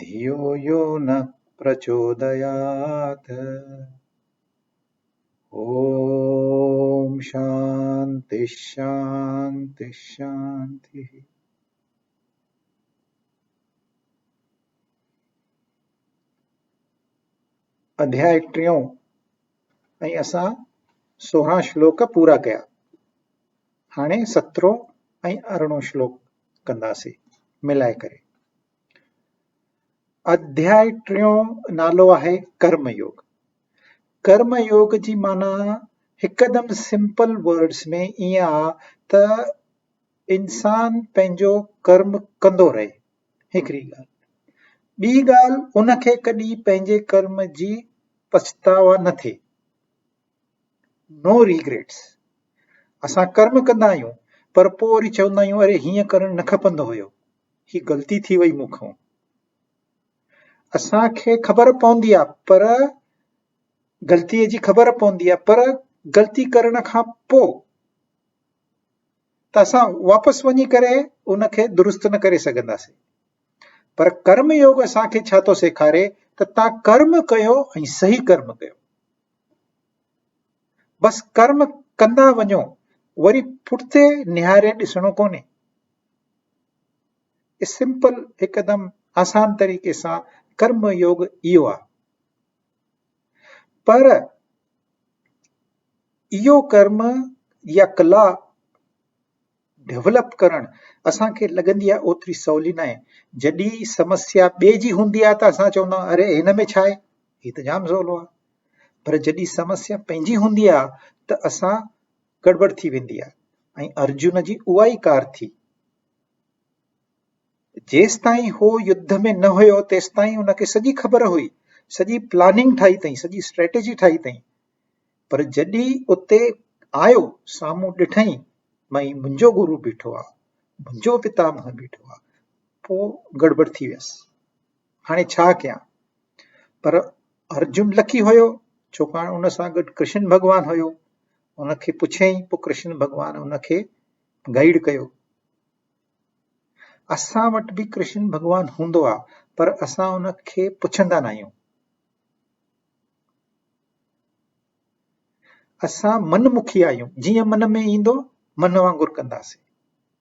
ڌيو يو نه پرچوديات اوم شانتي شانتي شانتي. اڌياء ٽيون ۽ اسان سورهن شلوڪ پورا ڪيا هاڻي سترهون ۽ ارڙهون شلوڪ ڪنداسي ملائي ڪري اڌياء ٽيون نالو آهي ڪرم يوگ ڪرم يوگ جي معنيٰ هڪدم سمپل ورڊس ۾ ايئن آهي ته انسان پنهنجو ڪرم ڪندو رهي هڪڙي ڳالهه ٻي ڳالهه ان کي ڪڏهن پنهنجي ڪرم جي پڇتاء نه ٿئي نو ريگريٽس اسان ڪرم ڪندا آهيون پر پوري چوندا آهيون اري هيئن ڪرڻ نه کپندو هيو هي غلطي ٿي وئي مون کان اسان کي خبر پوندي آ پر غلطي جي خبر پوندي آ پر غلطي ڪرڻ کان پو ته اسان واپس وڃي ڪري ان کي درست نه ڪري سگهنداسين پر ڪرم يوگ اسان کي ڇا ٿو سيکاري ته تان ڪرم ڪيو ۽ صحيح ڪرم ڪيو بس ڪرم ڪندا وڃو وري پٺتي نهاري ڏسڻو ڪونهي سمپل هڪدم آسان طريقي سان ڪرم يوگ اهو آ پر اهو ڪرم يا ڪلا ڊيولپ ڪرڻ اسان کي لڳندي آ اوتري سولي ناهي جڏي سمسيا ٻي جي هوندي آ ته اسان چوندا آهيون اري هن ۾ ڇا آهي هي ته جام سولو آ پر جڏي سمسيا پنهنجي هوندي آ ته اسان گڙٻڙ ٿي ويندي آهي ۽ ارجن جي اها ئي ڪار ٿي جيستائين هو يڌ ۾ نه هيو تيستائين ان کي سڄي خبر هئي سڄي پلاننگ ٺاهي اٿئي سڄي اسٽريٽجي ٺاهي اٿئي پر جڏي اتي آيو سامهون ڏٺئي مئي منهنجو گرو بيٺو آ منهنجو پتامه بيٺو آ پو گڙبڙ ٿي ويس هاڻي ڇا ڪيان؟ پر ارجن لکي هيو ڇوڪاڻ ان سان گڏ ڪرشن ڀڳوان هيو ان کي پڇيائين پوء ڪرشن ڀڳوان ان کي گائيڊ ڪيو اسان وٽ به ڪرشن ڀڳوان هوندو آهي پر اسان ان کي پڇندا نه آهيون اسان من مکي آهيون جيئن من ۾ ايندو من وانگر ڪنداسين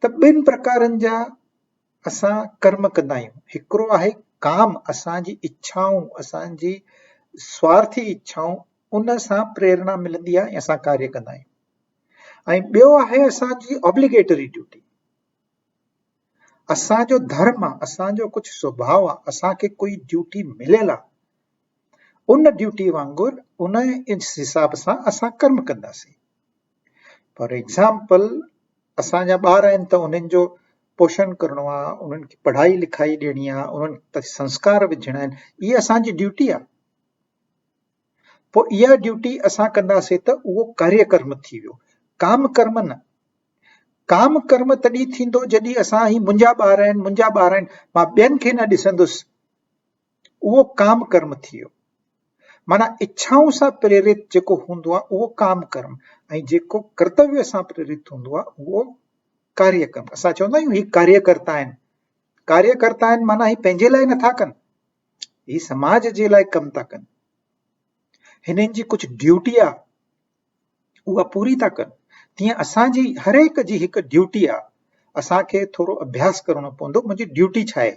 ته ٻن پرڪارن جا اسان ڪرم ڪندا آهيون هڪڙو آهي ڪام اسان جي اڇائون اسان جي سوارٿي اڇائون ان سان پريرنا ملندي آهي اسان ڪاري ڪندا آهيون ۽ ٻيو آهي اسان جي آبليگيٽري ڊيوٽي اسان جو ڌرم آهي اسان جو ڪجهه سڀاء آهي اسان کي ڪوئي ڊيوٽي مليل آهي ان ڊيوٽي وانگر ان حساب سان اسان ڪم ڪنداسين فار ايگزامپل اسان جا ٻار آهن ته انهن جو پوشڻ ڪرڻو آهي انهن کي پڙهائي لکائي ڏيڻي آهي انهن تي سنسڪار وجهڻا آهن هي اسانجي ڊيوٽي آهي پوء اها ڊيوٽي اسان ڪنداسين ته اهو ڪاري ڪرم ٿي ويو ڪام ڪرم نه ڪام ڪرم تڏهن ٿيندو جڏهن اسان هي منهنجا ٻار آهن منهنجا ٻار آهن مان ٻين کي نه ڏسندس اهو ڪام ڪرم ٿي ويو. معنيٰ اڇائون سان پريرت جيڪو هوندو آهي اهو ڪام ڪرم ۽ جيڪو ڪرتويو سان پريرت هوندو آهي اهو ڪاريه ڪرم اسان چوندا آهيون هي ڪاريه ڪرتا آهن ڪاريه ڪرتا آهن معنيٰ هي پنهنجي لاء نٿا ڪن هي سماج جي لاء ڪم ٿا ڪن هنن جي ڪجهه ڊيوٽي آ اها پوري ٿا ڪن تيئن اسان جي هر هڪ جي هڪ ڊيوٽي آ اسان کي ٿورو اڀياس ڪرڻو پوندو منهنجي ڊيوٽي ڇا آهي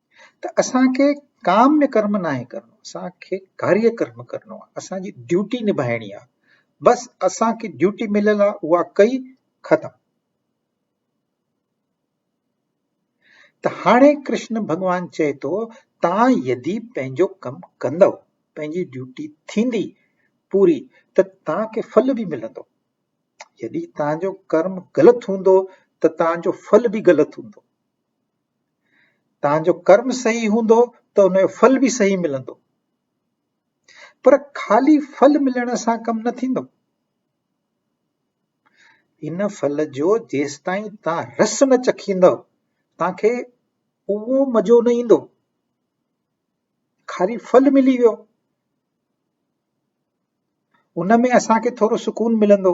ته اسان کي ڪام ۾ ڪرم ناهي ڪرڻو اسان کي ڪاريه ڪرم ڪرڻو آهي اسان جي ڊيوٽي نڀائڻي آهي بس اسان کي ڊيوٽي مليل آهي اها ڪئي ختم ته هاڻي ڪرشن ڀڳوان چئي ٿو تان يدي پنهنجو ڪم ڪندو پنهنجي ڊيوٽي ٿيندي پوري ته تان کي ڦل به ملندو يدي تان جو ڪرم غلط هوندو ته تان جو ڦل به غلط هوندو تنهنجو ڪرم صحيح هوندو ته ان جو ڦل به صحيح ملندو پر خالي ڦل ملڻ سان ڪم نه ٿيندو ان ڦل جو جيستائين تان رس نه چکيندو تان کي اهو مزو نه ايندو خالي ڦل ملي ويو ان ۾ اسان کي ٿورو سڪون ملندو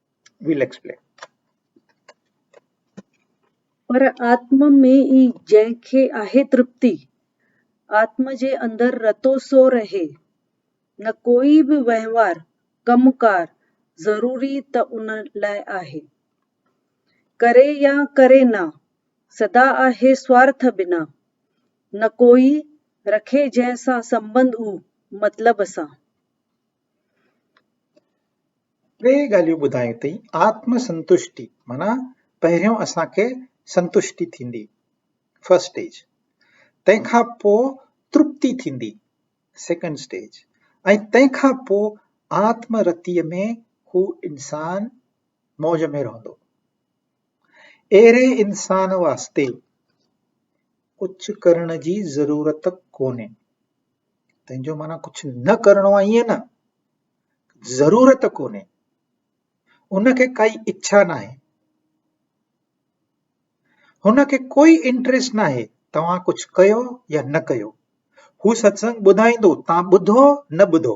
ويل ايڪسپلين. پر آتم ۾ ئي جنهن کي آهي ترپتي، آتم جي اندر رتو سو رهي، نه ڪوئي به وهنوار، ڪم ڪار، ضروري ته ان لاء آهي. ڪري يا ڪري نه، سدا آهي سوارٿ بنا، نه ڪوئي رکي جنهن سان سنبنڌ او مطلب سان. ٽي ڳالهيون ٻڌايون اٿئي آتم سنتشٽي معنيٰ پهريون اسان کي سنتشٽي ٿيندي فرسٽ اسٽيج تنهن کان پو ترپتي ٿيندي سيڪنڊ اسٽيج ۽ تنهن کان پو آتم رتي ۾ هو انسان موج ۾ رهندو اهڙي انسان واسطي ڪجهه ڪرڻ جي ضرورت ڪونهي تنهنجو معنيٰ ڪجهه نه ڪرڻو آهي ائين نه ضرورت ڪونهي ان کي ڪائي اڇا ناهي هن کي ڪوئي انٽريسٽ ناهي توهان ڪجهه ڪيو يا نه ڪيو هو ستسنگ ٻڌائيندو تان ٻڌو نه ٻڌو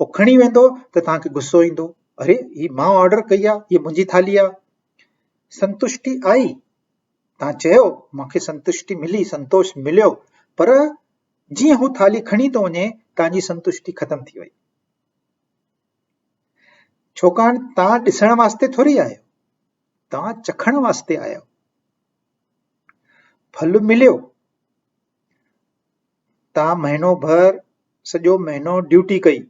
هو کڻي ويندو ته توهان کي غصو ايندو اري هي مان آرڊر ڪئي آهي هي منهنجي ٿالهي آهي سنتشٽي آئي توهان چيو مونکي سنتشٽي ملي سنتوش مليو پر جيئن هو ٿالهي کڻي ٿو وڃي توهانجي سنتشٽي ختم ٿي وئي ڇوڪان توهان ڏسڻ واسطي ٿوري آيو توهان چکڻ واسطي آيو ڦل مليو تان مهينو ڀر سڄو مهينو ڊيوٽي ڪئي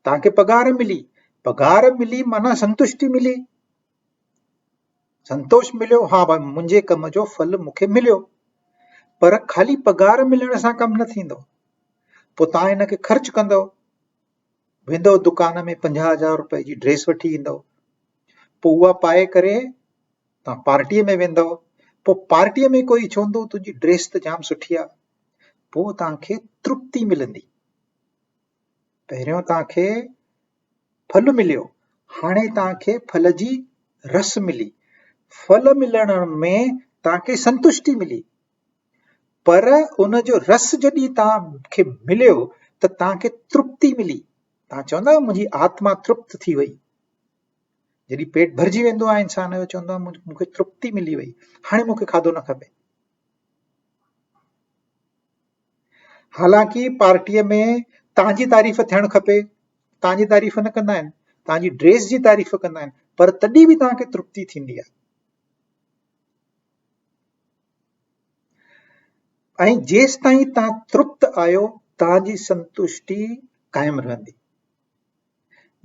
تان کي پگهار ملي پگهار ملي معنيٰ سنتشٽي ملي سنتوش مليو ها ڀاء منهنجي ڪم جو ڦل مون کي مليو پر خالي پگهار ملڻ سان ڪم نه ٿيندو پوء تان هن کي خرچ ڪندو ويندو دڪان ۾ پنجاهه هزار روپئي جي ڊريس وٺي ايندو پوء اها پائي ڪري تان پارٽيء ۾ ويندؤ، پوء پارٽيء ۾ ڪوئي چوندو تنهنجي ڊريس ته جام سٺي آ، پوء تان کي ترپتي ملندي. پهريون تان کي ڦل مليو، هاڻي تان کي ڦل جي رس ملي. ڦل ملڻ ۾ تان کي سنتشٽي ملي، پر ان جو رس جڏهن تان کي مليو ته تان کي ترپتي ملي. تان چوندؤ منهنجي آتما ترپت ٿي وئي. جڏهن پيٽ ڀرجي ويندو آهي انسان جو چوندو آهي مون کي ترپتي ملي وئي هاڻي مون کي کاڌو نه کپي حالانڪه پارٽيء ۾ تنهنجي تعريف ٿيڻ کپي تنهنجي تعريف نه ڪندا آهن تنهنجي ڊريس جي تعريف ڪندا آهن پر تڏهن به تنهنکي ترپتي ٿيندي آهي ۽ جيس تائين تنهن ترپت آهيو تنهنجي سنتوشٽي قائم رهندي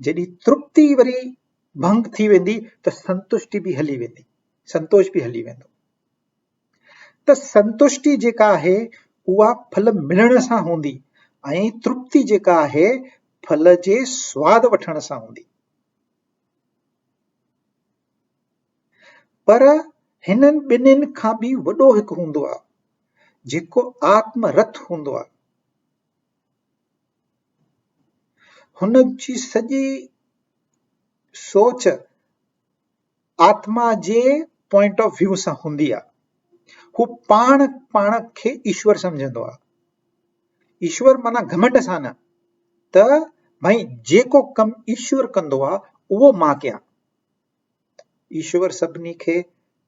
جيڏي ترپتي وري ڀنگ ٿي ويندي ته سنتشٽي به هلي ويندي سنتوش به هلي ويندو ته سنتشٽي جيڪا آهي اها ڦل ملڻ سان هوندي ۽ ترپتي جيڪا آهي ڦل جي سواد وٺڻ سان هوندي پر هنن ٻنين کان به وڏو هڪ هوندو آهي جيڪو آتم رٿ هوندو آهي هن جي سڄي سوچ آتما جي پوائنٽ آف ويو سان هوندي آهي هو پاڻ پاڻ کي ايشور سمجهندو آهي ايشور معنيٰ گهمنڊ سان نه ته ڀائي جيڪو ڪم ايشور ڪندو آهي اهو مان ڪيان ايشور سڀني کي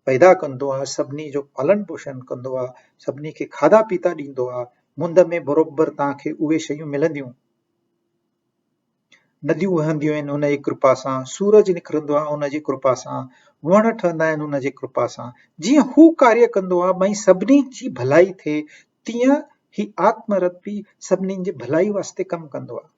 پيدا ڪندو آهي سڀني جو پالن پوشن ڪندو آهي سڀني کي کاڌا پيتا ڏيندو آهي مند ۾ بروبر توهان کي اهي شيون ملنديون نديون وهنديون آهن ان جي ڪرپا سان سورج نڪرندو آهي ان جي ڪرپا سان وڻ ٺهندا آهن ان جي ڪرپا سان جيئن هو ڪاري ڪندو آهي ٻئي سڀني جي ڀلائي ٿئي تيئن هي آتم رتي سڀني جي ڀلائي واسطي ڪم ڪندو آهي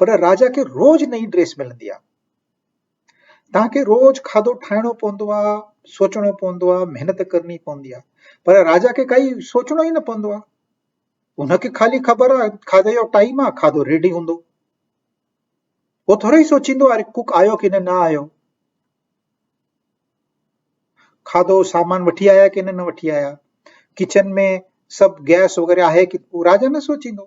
پر راجا کي روز نئين ڊريس ملندي آ. تنهن کي روز کاڌو ٺاهڻو پوندو آ، سوچڻو پوندو آ، محنت ڪرڻي پوندي آ. پر راجا کي ڪائي سوچڻو ئي نه پوندو آ. ان کي خالي خبر آ کاڌي جو ٽائيم آ کاڌو ريڊي هوندو هو ٿوري سوچيندو آ ڪوڪ آيو ڪي نه نه آيو کاڌو سامان وٺي آيا ڪي نه نه وٺي آيا ڪچن ۾ سڀ گئس وغيره آهي ڪي راجا نه سوچيندو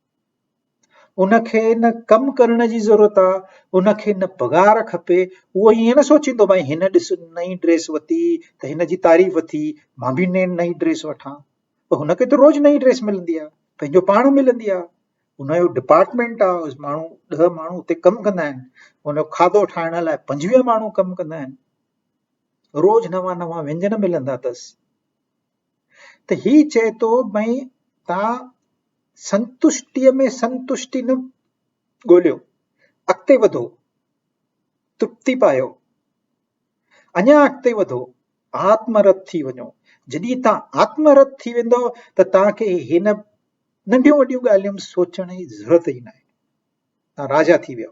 ان کي نه ڪم ڪرڻ جي ضرورت آ، ان کي نه پگهار کپي، اهو ائين نه سوچيندو ڀائي هن ڏس نئين ڊريس ورتي ته هن جي تعريف ٿي مان به نئين ڊريس وٺان ته هن کي ته روز نئين ڊريس ملندي آ پنهنجو پاڻ ملندي آ ان جو ڊپارٽمينٽ آ ماڻهو ڏهه ماڻهو اتي ڪم ڪندا آهن ان جو کاڌو ٺاهڻ لاء پنجويهه ماڻهو ڪم ڪندا آهن روز نوان نوان وينجن ملندا اٿس ته هي چئي ٿو ڀئي توهان سنتشٽيء ۾ سنتشٽي نه ڳوليو، اڳتي وڌو، ترپتي پايو، اڃا اڳتي وڌو، آتم رت ٿي وڃو. جڏهن توهان آتم رت ٿي ويندو ته توهان کي هن ننڍيون وڏيون ڳالهيون سوچڻ جي ضرورت ئي ناهي. توهان راجا ٿي ويو.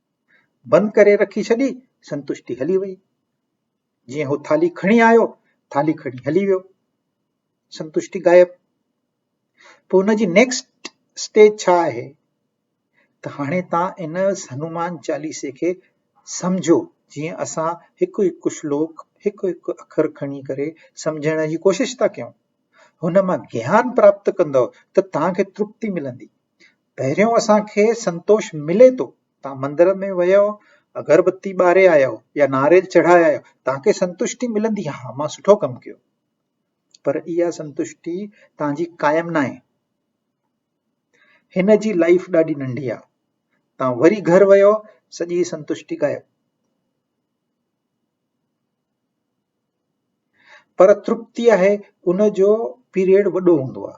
بند ڪري رکي ڇڏي، سنتشٽي هلي وئي. جيئن هو ٿالهي کڻي آيو، ٿالهي کڻي هلي ويو. سنتشٽي غائب. پوء ان جي نيڪسٽ اسٽيج ڇا آهي؟ ته هاڻي تان ان هنومان چاليسي کي سمجهو جيئن اسان هڪ هڪ شلوڪ هڪ هڪ اکر کڻي ڪري سمجهڻ جي ڪوشش ٿا ڪيون. هن مان گيان پراپت ڪندؤ ته توهان کي ترپتي ملندي. پهريون اسان کي سنتوش ملي ٿو تان مندر ۾ ويو اگر بتي ٻاري آيو يا ناريل چڙهائي آيو تان کي سنتوشٽي ملندي ها مان سٺو ڪم ڪيو پر اها سنتوشٽي تان جي قائم نه آهي هن جي لائف ڏاڍي ننڍي آهي تان وري گهر ويو سڄي سنتوشٽي غائب پر ترپتي آهي ان جو پيريڊ وڏو هوندو آهي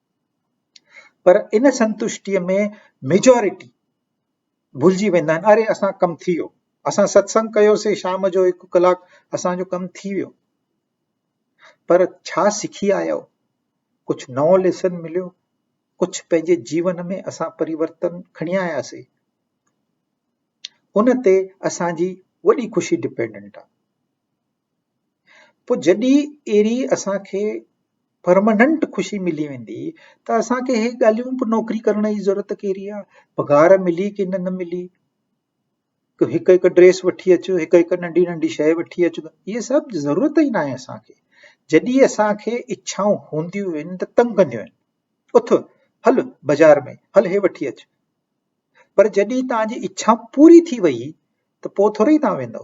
پر ان سنتشٽيء ۾ ميجارٽي ڀلجي ويندا آهن اري اسان ڪم ٿي ويو اسان ستسنگ ڪيوسي شام جو هڪ ڪلاڪ اسان جو ڪم ٿي ويو پر ڇا سکي آيو ڪجهه نئون ليسن مليو ڪجهه پنهنجي جيون ۾ اسان پريورتن کڻي آياسي ان تي اسان جي وڏي خوشي ڊپينڊنٽ آهي پوء جڏهن اهڙي اسان کي پرماننٽ خوشي ملي ويندي ته اسان کي اهي ڳالهيون به نوڪري ڪرڻ جي ضرورت ڪهڙي آهي پگهار ملي ڪي نه ملي ته هڪ هڪ ڊريس وٺي اچو هڪ هڪ ننڍي ننڍي شي وٺي اچو اهي سڀ ضرورت ئي ناهي اسان کي جڏهن اسان کي اڇائون هونديون آهن ته تنگ ڪنديون آهن اٿ هل بازار ۾ هل هي وٺي اچ پر جڏهن توهان جي اڇا پوري ٿي وئي ته پوء ٿوري توهان ويندو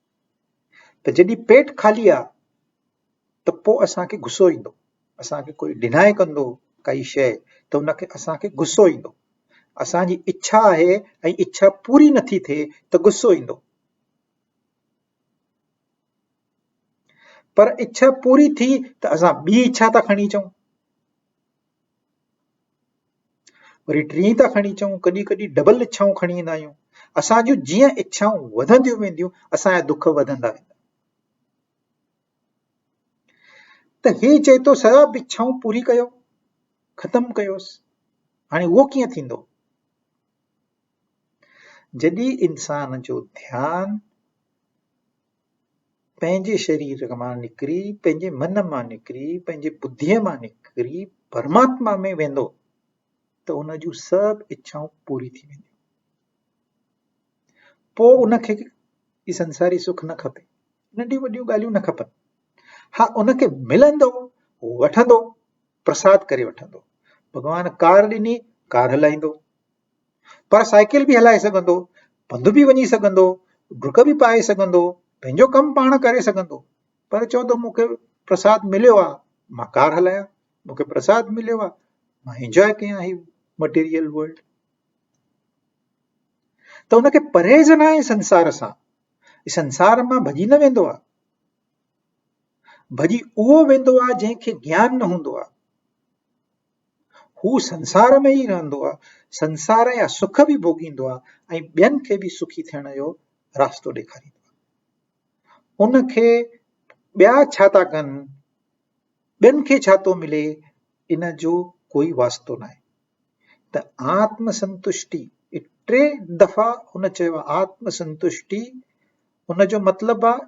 ته جڏهن پيٽ خالي آ ته پوء اسان کي غصو ايندو اسان کي ڪوئي ڊنائي ڪندو ڪائي شيء ته ان کي اسان کي غصو ايندو اسان جي اڇا آهي ۽ اڇا پوري نٿي ٿئي ته غصو ايندو پر اڇا پوري ٿي ته اسان ٻي اڇا ٿا کڻي اچون وري ٽين ٿا کڻي اچون ڪڏهن ڪڏهن ڊبل اڇائون کڻي ايندا آهيون اسان جون جيئن اڇائون وڌنديون وينديون اسان جا دک وڌندا ويندا ته هي چئي ٿو سڀ اڇائون پوري ڪيو ختم ڪيوس هاڻي اهو ڪيئن ٿيندو جڏهن انسان جو ڌيان پنهنجي شرير مان نڪري، پنهنجي من مان نڪري، پنهنجي ٻڌيء مان نڪري پرماتما ۾ ويندو ته ان جون سڀ اڇائون پوري ٿي وينديون. پوء ان کي هي سنساري سک نه کپي ننڍيون وڏيون ڳالهيون نه کپن ها ان کي ملندو وٺندو پرساد ڪري وٺندو ڀڳوان ڪار ڏني ڪار هلائيندو پر سائيڪل به هلائي سگهندو، پنڌ به وڃي سگهندو، ڊڪ به پائي سگهندو، پنهنجو ڪم پاڻ ڪري سگهندو پر چوندو مون کي پرساد مليو آ مان ڪار هلايان، مون کي پرساد مليو آ مان انجوائي ڪيان هي مٽيريل ورلڊ. ته ان کي پرهيز نه آهي سنسار سان سنسار مان ڀڄي نه ويندو آ ڀڄي اهو ويندو آ جنهن کي گيان نه هوندو آ هو سنسار ۾ ئي رهندو آهي، سنسار جا سک به ڀوڳيندو آهي ۽ ٻين کي به سکي ٿيڻ جو راستو ڏيکاريندو آهي. ان کي ٻيا ڇا ٿا ڪن، ٻين کي ڇا ٿو ملي، ان جو ڪوئي واسطو ناهي. ته آتم سنتشٽي ٽي دفعا هن چيو آتم سنتشٽي ان جو مطلب آهي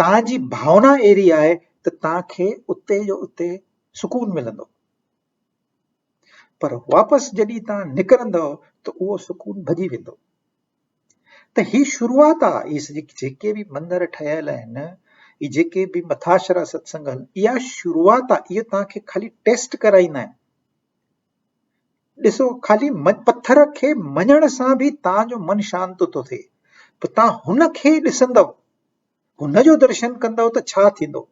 توهان جي ڀاونا اهڙي آهي ته توهان کي اتي جو اتي سڪون ملندو پر واپس جڏهن توهان نڪرندو ته اهو سڪون ڀڄي ويندو ته هي شروعات آهي هي جيڪي به مندر ٺهيل آهن هي جيڪي به مٿاشرا ستسنگ آهن اها شروعات آهي اهي توهان کي خالي ٽيسٽ ڪرائيندا آهن ڏسو خالي پٿر کي مڃڻ سان به توهان جو من شانت ٿو ٿئي ته توهان هن کي ڏسندو هن جو درشن ڪندو ته ڇا ٿيندو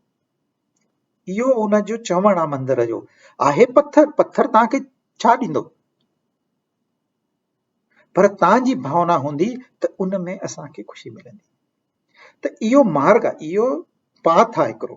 اهو هن جو چوڻ آهي مندر جو آهي پٿر پٿر توهان کي ڇا ڏيندو پر توهان جي ڀاونا هوندي ته ان ۾ اسان کي خوشي ملندي ته اهو مارگ اهو پاٿ آهي هڪڙو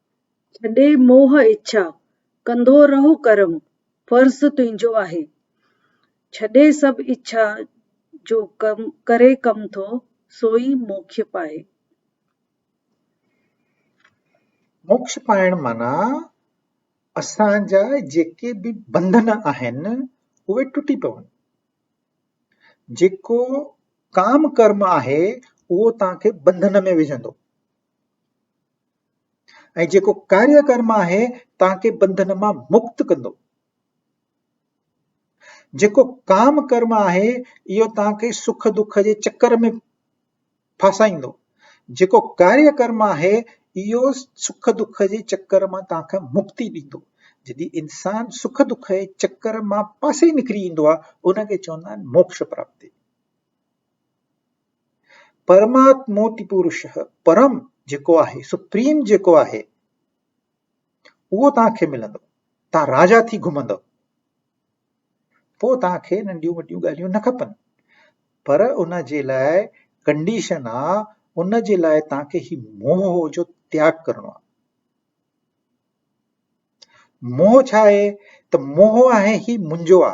ڇڏي موهه اڇا، ڪندو رهه ڪرم، فرض تنهنجو آهي. ڇڏي سڀ اڇا، جو ڪري ڪم ٿو، سوئي موکش پائي. موکش پائڻ معنيٰ اسان جا جيڪي به بنڌن آهن، اهي ٽٽي پون. جيڪو ڪام ڪرم آهي، اهو توهان کي بنڌن ۾ وجهندو. ۽ جيڪو ڪاريه ڪرم آهي توهان کي بنڌن مان مڪت ڪندو جيڪو ڪام ڪرم آهي اهو توهان کي سک دک جي چڪر ۾ ڦاسائيندو جيڪو ڪاريه ڪرم آهي اهو سک دک جي چڪر مان توهان کي مڪتي ڏيندو جڏهن انسان سک دک جي چڪر مان پاسي نڪري ايندو آهي ان کي چوندا آهن موڪش پراپتي پرماتموتي پورشهه، پرم جيڪو آهي، سپريم جيڪو آهي، اهو توهان کي ملندو. توهان راجا ٿي گهمندو. پوء توهان کي ننڍيون وڏيون ڳالهيون نه کپن. پر ان جي لاء ڪنڊيشن آ ان جي لاء توهان کي هي موهه جو تياگ ڪرڻو آ. موهه ڇا آهي ته موهه آهي هي منهنجو آ.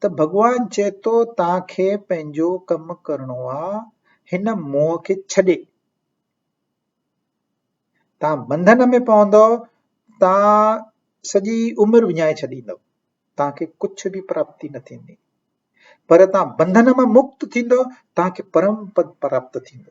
ته ڀڳوان چئي ٿو توهان کي پنهنجو ڪم ڪرڻو آ هن موهه کي ڇڏي توهان بنڌن ۾ پوندؤ توهان سڄي عمر وڃائي ڇڏيندؤ توهان کي ڪجهه به پراپتي نه ٿيندي پر توهان بنڌن مان مڪت ٿيندؤ توهان کي پرم پد پراپت ٿيندو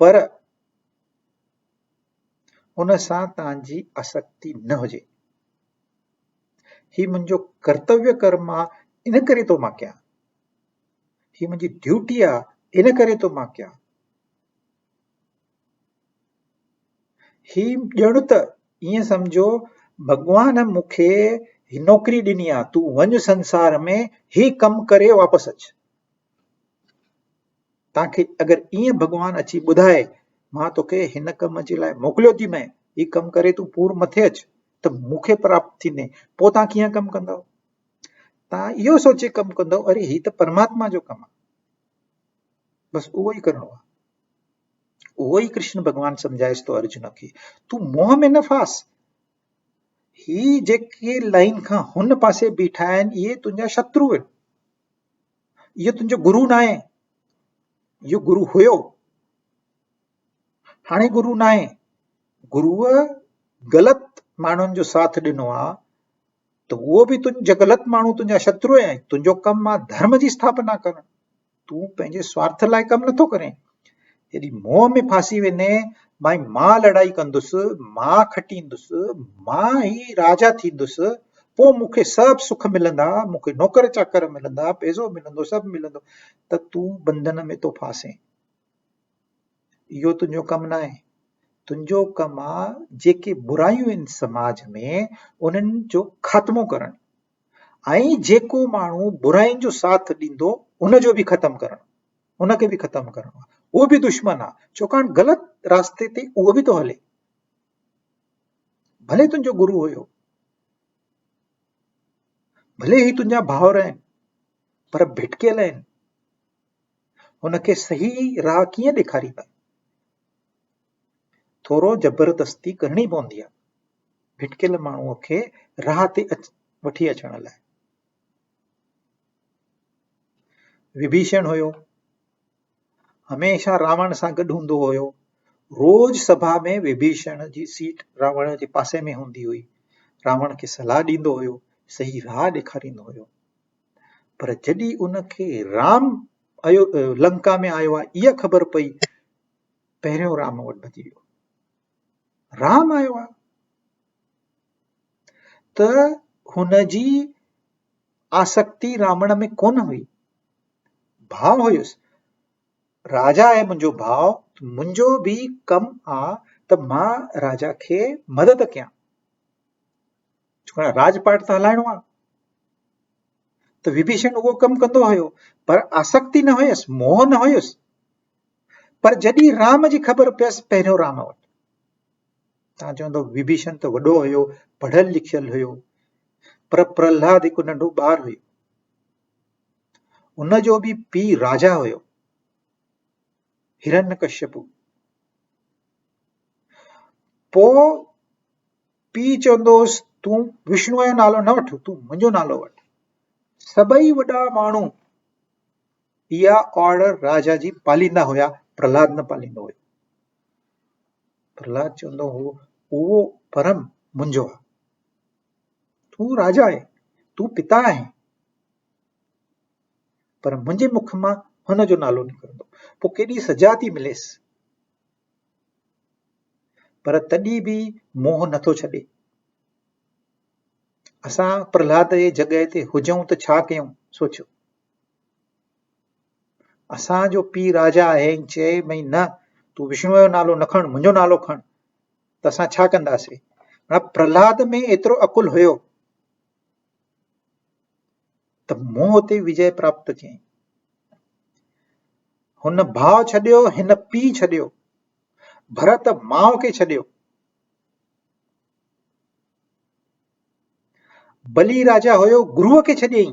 پر ان سان توهان جي آسڪتي نه هجي هي منهنجو ڪرتويه ڪر مان ان ڪري ٿو مان ڪيان هي منهنجي ڊيوٽي آ ان ڪري ٿو مان ڪيان هي ڄڻ ته ائين سمجهو ڀڳوان مون کي هي نوڪري ڏني آ تون وڃ سنسار ۾ هي ڪم ڪري واپس اچ تان کي اگر ايئن ڀڳوان اچي ٻڌائي مان توکي هن ڪم جي لاء موڪليو ٿي مئين، هي ڪم ڪري تون پور مٿي اچ ته مون کي پراپت ٿيندين، پوء تان ڪيئن ڪم ڪندؤ؟ تان اهو سوچي ڪم ڪندؤ اري هي ته پرماتما جو ڪم آ. بس اهو ئي ڪرڻو آ. اهو ئي ڪرشن ڀڳوان سمجهائيس ٿو ارجن کي، تون موهه ۾ نه ڦاس. هي جيڪي لائين کان هن پاسي بيٺا آهن اهي تنهنجا شترو آهن. اهو تنهنجو گرو ناهي، اهو گرو هيو، هاڻي گرو ناهي، گرو غلط ماڻهن جو ساٿ ڏنو آ ته اهو به تنهنجا غلط ماڻهو تنهنجا شترو آهن، تنهنجو ڪم آ ڌرم جي اسٿاپنا ڪرڻ، تون پنهنجي سوارٿ لاء ڪم نٿو ڪرين جڏهن موهه ۾ ڦاسي ويندين ڀائي مان لڙائي ڪندس مان کٽيندس مان ئي راجا ٿيندس پوء مون کي سڀ سک ملندا مون کي نوڪر چاڪر ملندا پئسو ملندو سڀ ملندو ته تون بندن ۾ ٿو ڦاسين اهو تنهنجو ڪم نه آهي تنهنجو ڪم آهي جيڪي برايون آهن سماج ۾ انهن جو خاتمو ڪرڻ ۽ جيڪو ماڻهو براين جو ساٿ ڏيندو ان جو به ختم ڪرڻ ان کي به ختم ڪرڻو آ اهو به دشمن آ ڇوڪاڻ غلط راسته تي اهو به ٿو هلي ڀلي تنهنجو گرو هيو ڀلي هي تنهنجا ڀاور آهن پر ڀٽڪيل آهن هن کي صحيح راهه ڪيئن ڏيکاريندا ٿورو زبردستي ڪرڻي پوندي آهي ڀٽڪيل ماڻهوء کي راهه تي وٺي اچڻ لاء وڀيشڻ هيو هميشه راوڻ سان گڏ هوندو هيو روز سڀا ۾ وڀيشڻ جي سيٽ راوڻ جي پاسي ۾ هوندي هئي راوڻ کي صلاح ڏيندو هيو صحيح راهه ڏيکاريندو هيو پر جڏهن ان کي رام ايو لنڪا ۾ آيو آهي اها خبر پئي پهريون رام وٽ ڀڄي ويو رام آيو آهي ته هن جي آسڪتي رامڙ ۾ ڪونه هئي ڀاء هيس راجا آهي منهنجو ڀاء منهنجو به ڪم آ ته مان راجا کي مدد ڪيان ڇو ته راڄ پاٽ ته هلائڻو آ ته وڀيشن اهو ڪم ڪندو هيو پر آسڪتي نه هيس موهه نه هيس پر جڏهن رام جي خبر پيس پهريو رام وٽ تان چوندو وڀيشن ته وڏو هيو پڙهيل لکيل هيو پر پرهلاد هڪ ننڍو ٻار هيو ان جو به پي راجا هيو هرن ڪشپ پو پي چوندوس تون وشنو جو نالو نه وٺ تون منهنجو نالو وٺ سڀئي وڏا ماڻهو اها آرڊر راجا جي پاليندا هيا پرهلاد نه پاليندو هيو پرهلاد چوندو هو، اهو پرم منهنجو آهي. تون راجا آهين، تون پتا آهين. پر منهنجي مک مان هن جو نالو نڪرندو، پوء ڪيڏي سزا ٿي مليس. پر تڏهن به موهه نٿو ڇڏي. اسان پرهلاد جي جڳهه تي هجون ته ڇا ڪيون؟ سوچيو. اسان جو پيء راجا آهي ۽ چيائين نه تون وشنوء جو نالو نه کڻ منهنجو نالو کڻ ته اسان ڇا ڪنداسين هاڻ پرهلاد ۾ ايترو عقل هيو ته مون اتي وجي پراپت ڪيائين هن ڀاء ڇڏيو هن پيء ڇڏيو ڀرت ماء کي ڇڏيو بلي راجا هيو گروء کي ڇڏيائين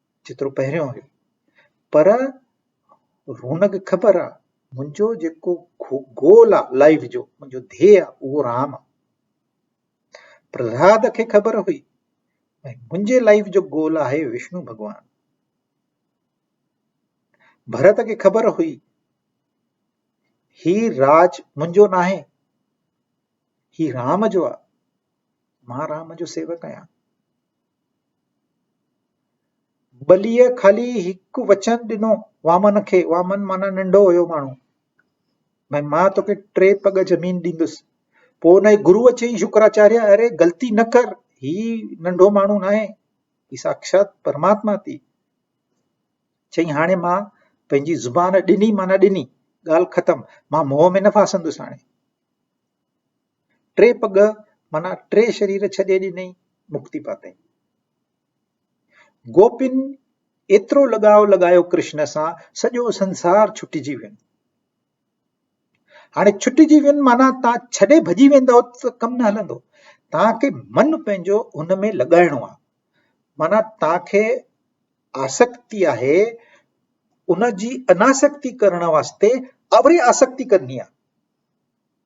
جيترو پهريون هيو. پر رونق خبر آ منهنجو جيڪو گول آ لائيف جو منهنجو ڌيء آ اهو رام آ. پرهلاد کي خبر هئي ۽ منهنجي لائيف جو گول آهي وشنو ڀڳوان. ڀرت کي خبر هئي هي راج منهنجو ناهي هي رام جو آ مان رام جو سيوڪ آهيان. ٻليء خالي هڪ وچن ڏنو وامن کي، وامن معنيٰ ننڍو هيو ماڻهو، ڀاء مان توکي ٽي پڳ زمين ڏيندس، پوء ان جي گروء چيائين شڪراچاريه اري غلطي نه ڪر، هي ننڍو ماڻهو ناهي، هي ساکشات پرماتما ٿي. چيائين هاڻي مان پنهنجي زبان ڏني معنيٰ ڏني، ڳالهه ختم، مان موهه ۾ نه ڦاسندس هاڻي. ٽي پڳ معنيٰ ٽي شرير ڇڏي ڏنئي، مڪتي پاتئين. گوپين ايترو لڳاء لڳايو ڪرشن سان سڄو سنسار ڇٽجي وين. هاڻي ڇٽجي وين معنيٰ تان ڇڏي ڀڄي ويندو ته ڪم نه هلندو. تان کي من پنهنجو ان ۾ لڳائڻو آهي. معنيٰ تان کي آسڪتي آهي ان جي اناسڪتي ڪرڻ واسطي اوري آسڪتي ڪرڻي آهي.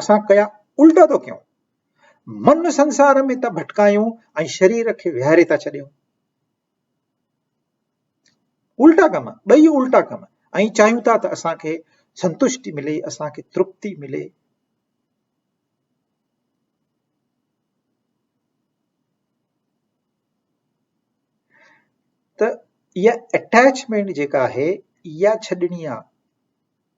اسان ڪيا الٽا ٿو ڪيون، من سنسار ۾ ٿا ڀٽڪايون ۽ شرير کي ويهاري ٿا ڇڏيون. الٽا ڪم ٻئي الٽا ڪم ۽ چاهيون ٿا ته اسان کي سنتشٽي ملي اسان کي ترپتي ملي ته اها اٽيچمينٽ جيڪا آهي اها ڇڏڻي آهي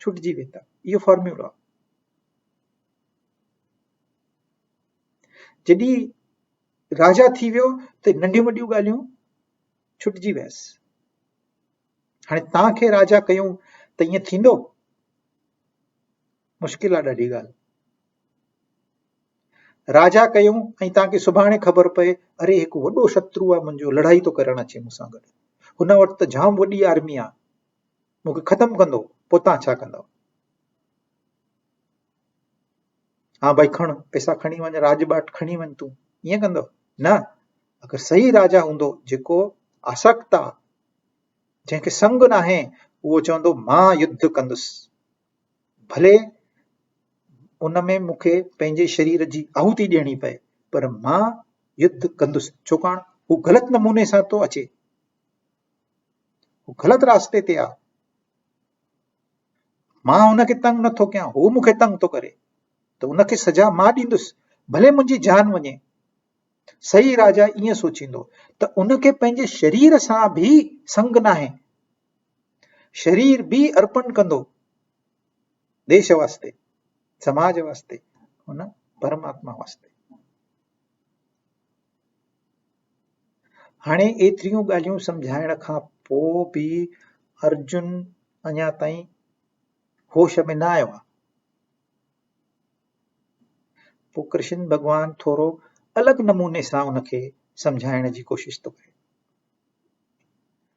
ڇٽجي ويندا اهو فارميولو آهي جڏي راجا ٿي ويو ته ننڍيون وڏيون ڳالهيون ڇٽجي ويس هاڻي تان کي راجا ڪيون ته ائين ٿيندو مشڪل آهي ڏاڍي ڳالهه راجا ڪيون ۽ تان کي سڀاڻي خبر پئي اري هڪ وڏو شترو آهي منهنجو لڙائي ٿو ڪرڻ اچي مون سان گڏ هن وٽ ته جام وڏي آرمي آهي مون کي ختم ڪندو پوء تان ڇا ڪندؤ. ها ڀائي کڻ پئسا کڻي وڃ راڄ ٻاٽ کڻي وڃ تون ائين ڪندو نه اگر صحيح راجا هوندو جيڪو آسڪتا جنهن کي سنگ ناهي اهو چوندو مان يڌ ڪندس ڀلي ان ۾ مون کي پنهنجي شرير جي آهوتي ڏيڻي پئي پر مان يڌ ڪندس ڇوڪاڻ هو غلط نموني سان ٿو اچي هو غلط راستے تي آ مان هن کي تنگ نٿو ڪيان هو مون کي تنگ ٿو ڪري ته ان کي سزا مان ڏيندس ڀلي منهنجي جان وڃي صحيح راجا ائين سوچيندو ته ان کي پنهنجي شرير سان به سنگ ناهي شرير به ارپن ڪندو ديش واسطي سماج واسطي ان پرماتما واسطي هاڻي ايتريون ڳالهيون سمجهائڻ کان پوء به ارجن اڃا تائين هوش ۾ نه آيو آهي. پوء ڪرشن ڀڳوان ٿورو الڳ نموني سان ان کي سمجهائڻ جي ڪوشش ٿو ڪري.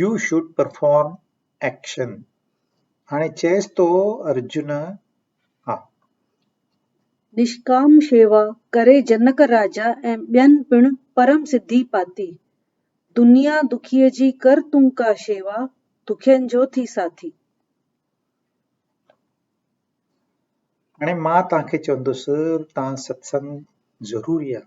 يو شوڊ پرفارم ايڪشن هاڻي چيس ٿو ارجن ها. نشڪام شيوا ڪري جنڪ راجا ۽ ٻين پڻ پرم سڌي پاتي. دنيا دکيء جي ڪر تون ڪا شيوا، دکين جو ٿي ساٿي. هاڻي مان توهان کي چوندس ته ستسنگ ضروري آهي.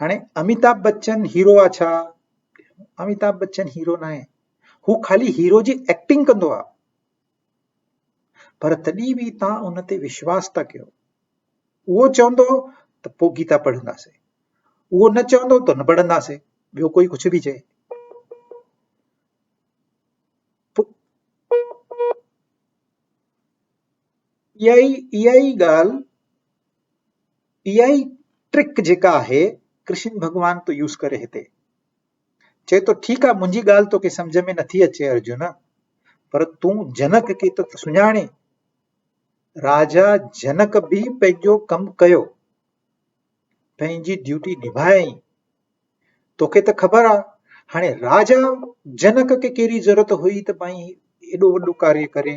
هاڻي اميتاڀ بچن هيرو آ ڇا اميتاڀ بچن هيرو نه آهي هو خالي هيرو جي ايڪٽنگ ڪندو آ پر تڏهن به توهان ان تي وشواس ٿا ڪيو اهو چوندو ته پو گيتا پڙهنداسين اهو نه چوندو ته نه پڙهنداسين ٻيو ڪوئي ڪجهه به چئي اها ئي ڳالهه اها ئي ٽرڪ جيڪا آهي ڪرشن ڀڳوان ٿو يوز ڪري هتي چئي ٿو ٺيڪ آهي منهنجي ڳالهه توکي سمجهه ۾ نٿي اچي ارجن پر تون جنڪ کي ته سڃاڻي راجا جنڪ به پنهنجو ڪم ڪيو پنهنجي ڊيوٽي نڀائي توکي ته خبر آهي هاڻي راجا جنڪ کي ڪهڙي ضرورت هئي ته مائي ايڏو وڏو ڪاري ڪري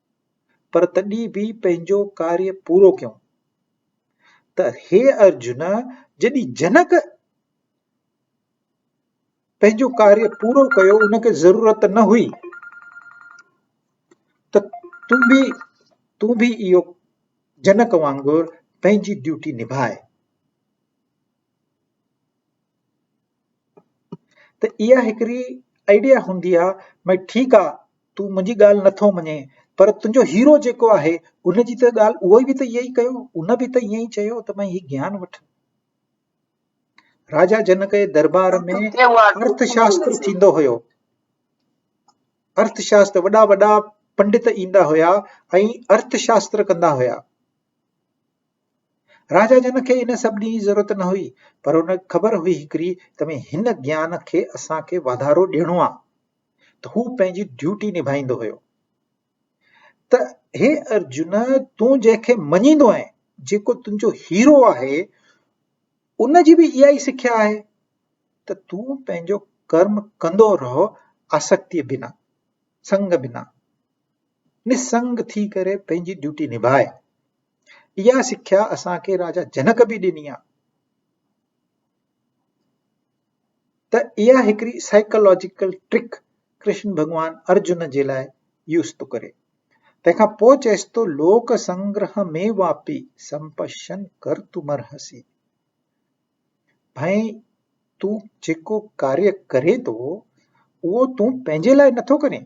پر تڏهن به پنهنجو ڪاري پورو ڪيون ته هي ارجن جڏهن جنڪ پنهنجو ڪاري پورو ڪيو ان کي ضرورت نه هئي ته تون به تون به اهو جنڪ وانگر پنهنجي ڊيوٽي نڀاء ته اها هڪڙي آئيڊيا هوندي آ ڀاء ٺيڪ آ تون منهنجي ڳالهه نٿو مڃين پر تنهنجو هيرو جيڪو آهي ان جي ته ڳالهه اهو به ته ايئن ئي ڪيو ان به ته ايئن ئي چيو ته ڀاء هي گيان وٺ راجا جنڪ جي دربار ۾ ارٿ شاستر ٿيندو هيو ارٿ شاستر وڏا وڏا پنڊت ايندا هيا ۽ ارٿ شاستر ڪندا هيا راجا جن کي ان سڀني جي ضرورت نه هئي، پر ان کي خبر هئي هڪڙي ته ۾ هن گيان کي اسان کي واڌارو ڏيڻو آ ته هو پنهنجي ڊيوٽي نڀائيندو هيو ته هي ارجن تون جنهن کي مڃيندو آهين جيڪو تنهنجو هيرو آهي ان جي به اها ئي سکيا آهي ته تون پنهنجو ڪرم ڪندو رهو آسڪتيء بنا سنگ بنا نسنگ ٿي ڪري پنهنجي ڊيوٽي نڀاء اها سکيا اسان کي راجا جنڪ به ڏني آهي ته اها هڪڙي سائيڪالاجيڪل ٽرڪ ڪرشن ڀڳوان ارجن جي لاء يوز ٿو ڪري تنهن کان پوء چئيس ٿو لوڪ سنگره ۾ واپي سمپشن ڪر تو مرهسي ڀائي تون جيڪو ڪاري ڪري ٿو اهو تون پنهنجي لاء نٿو ڪرين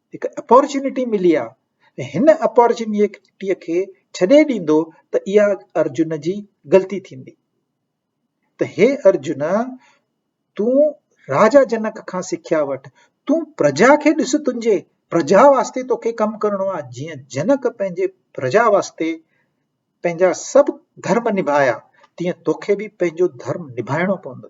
هڪ اپارچونٽي ملي آ ۽ هن اپارچونٽي کي ڇڏي ڏيندو ته اها ارجن جي غلطي ٿيندي ته هي ارجن تون راجا جنڪ کان سکيا وٺ تون پرجا کي ڏس تنهنجي پرجا واسطي توکي ڪم ڪرڻو آ جيئن جنڪ پنهنجي پرجا واسطي پنهنجا سڀ ڌرم نڀايا تيئن توکي به پنهنجو ڌرم نڀائڻو پوندو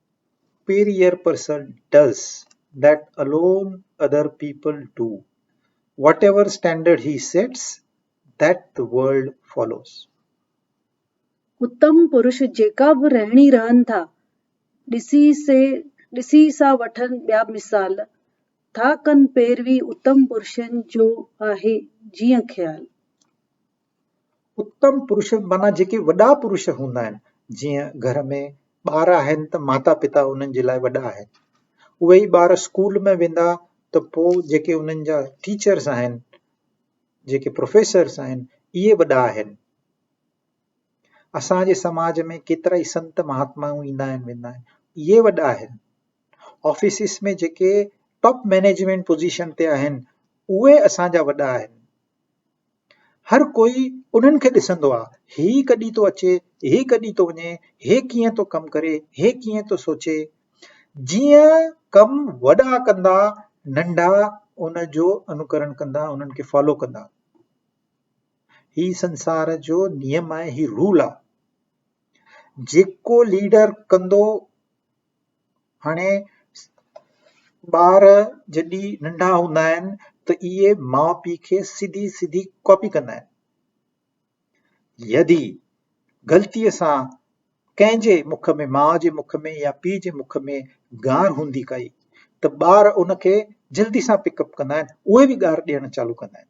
superior person does that alone other people do whatever standard he sets that the world follows اتم پرش جيڪا به رهڻي رهن ٿا ڏسي سي ڏسي سا وٺن ٻيا مثال ٿا ڪن پيروي اتم پرشن جو آهي جيئن خيال. اتم پرش معنيٰ جيڪي وڏا پرش هوندا آهن جيئن گهر ۾ ٻار آهن ته ماتا پتا انهن جي لاء وڏا آهن اهي ئي ٻار اسڪول ۾ ويندا ته پوء جيڪي انهن جا ٽيچرس آهن جيڪي پروفيسرس آهن اهي وڏا آهن اسان جي سماج ۾ ڪيترا ئي سنت مهاتمائون ايندا آهن ويندا آهن اهي وڏا آهن آفيسز ۾ جيڪي ٽاپ مئنيجمينٽ پوزيشن تي آهن اهي اسان جا وڏا آهن هر ڪوئي انهن کي ڏسندو آ، هي ڪڏهن ٿو اچي، هي ڪڏهن ٿو وڃي، هي ڪيئن ٿو ڪم ڪري، هي ڪيئن ٿو سوچي. جيئن ڪم وڏا ڪندا، ننڍا ان جو انوڪرڻ ڪندا، انهن کي فالو ڪندا. هي سنسار جو نيم آهي، هي رول آ. جيڪو ليڊر ڪندو، هاڻي ٻار جڏهن ننڍا هوندا آهن ته اهي ماء پيء کي سڌي سڌي ڪاپي ڪندا آهن يدي غلطيء سان ڪنهن جي مک ۾ ماء جي مک ۾ يا پيء جي مک ۾ گار هوندي ڪئي ته ٻار ان کي جلدي سان پڪ اپ ڪندا آهن اهي به گار ڏيڻ چالو ڪندا آهن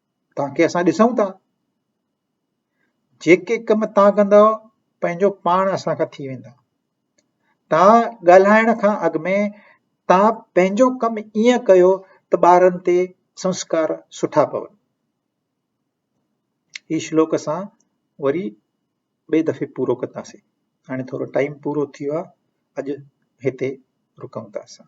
تانکي اسان ڏسون ٿا جيڪي ڪم تان ڪندو پنهنجو پاڻ اسان کان ٿي ويندا تان ڳالهائڻ کان اڳ ۾ تان پنهنجو ڪم ائين ڪيو ته ٻارن تي سنسڪار سٺا پون هي شلوڪ اسان وري ٻئي دفعي پورو ڪنداسين هاڻي ٿورو ٽائيم پورو ٿي ويو اڄ هتي رڪون ٿا اسان